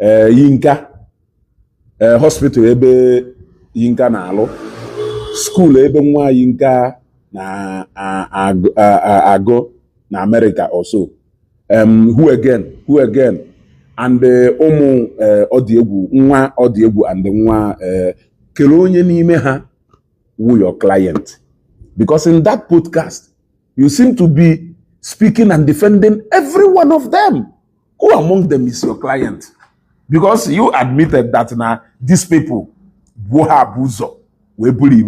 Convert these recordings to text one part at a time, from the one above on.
ee Yinka ee hospital ebe Yinka na-alụ school ebe nwa Yinka na-agụ na Amerịka also em who again who again and eh, ụmụ eh, Ọdịegwu nwa Ọdịegwu and nwa eh, kere onye n'ime ha wụ your client because in that podcast you seem to be speaking and defending every one of them. Who among them is your client? Because you admitted that na these people bụ ha bu ụzọ wee bully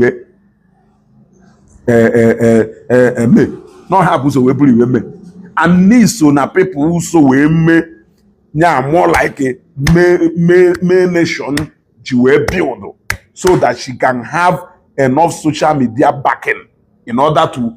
eh, eh, eh, May na ha bu ụzọ wee bully May and n'ị so na people who so wee mee ya more like May Nation ji wee build so that she can have enough social media backing in order to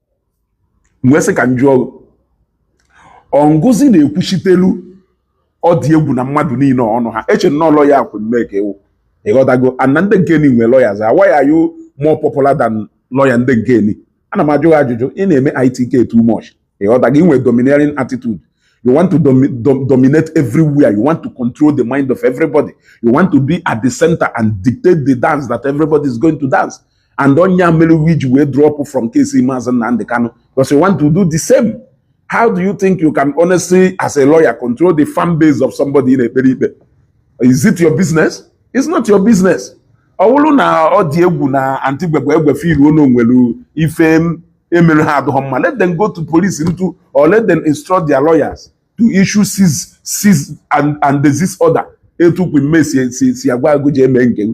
wee sị ka m jụọ ọ ngịzi na-ekwuchitelu Ọdịegwu na mmadụ niile ọnụ ha eche na ọ lọya Queen May ka ị wụ ịghọtago and ndị nke ni nwee lawyers why are you more popular than lọya ndị nke ni ana m ajụ gị ajụjụ ị na-eme ITK too much ịghọtago i nwe domineering attitude you want to domi dom dominate everywhere you want to control the mind of everybody you want to be at the center and dictate the dance that everybody is going to dance and ọ nya mere i ji wee drop from case Maazị Nnamdi Kanu because you want to do the same how do you think you can honestly as a lawyer control the fan base of somebody ị na-ekpere ikpe is it your business it's not your business ọ bụrụ na Ọdịegwu na antigbegbe egbe feeluo na o nwere ife e mere ha adịghọ mma let them go to police into or let them instruct their lawyers to issue cease cease and and desist order etu Queen May si si si agwa gị ji eme nke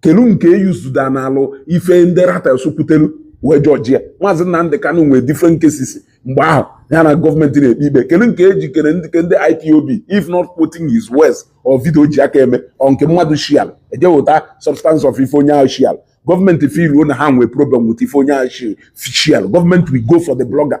kelu nke eyuzuda na alụ ife ndị Ratels kwutelu wee judge ya maazị Nnamdị Kanụ nwee different cases mgbe ahụ ya na gọọmenti na-ekpe ikpe kelu nke e ji kere ndị ke ndị IPOB if not quoting his words or video o ji aka eme ọ nke mmadụ sharelụ eje weta substance of ife onye ahụ sharelụ gọọmenti feeluo na ha nwee problem with ife onye ahụ sharelụ gọọmenti will go for the blogger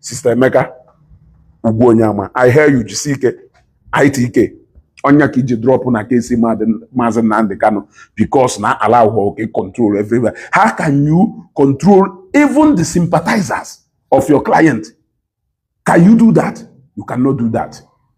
Sista Emeka Ugwuonyeama I hear you jisi ike ITK ọ nya ka i ji drọpụ na case maazị Nnamdi Kanu because na allowhọ gị control everywhere how can you control even the sympathizers of your client can you do that you cannot do that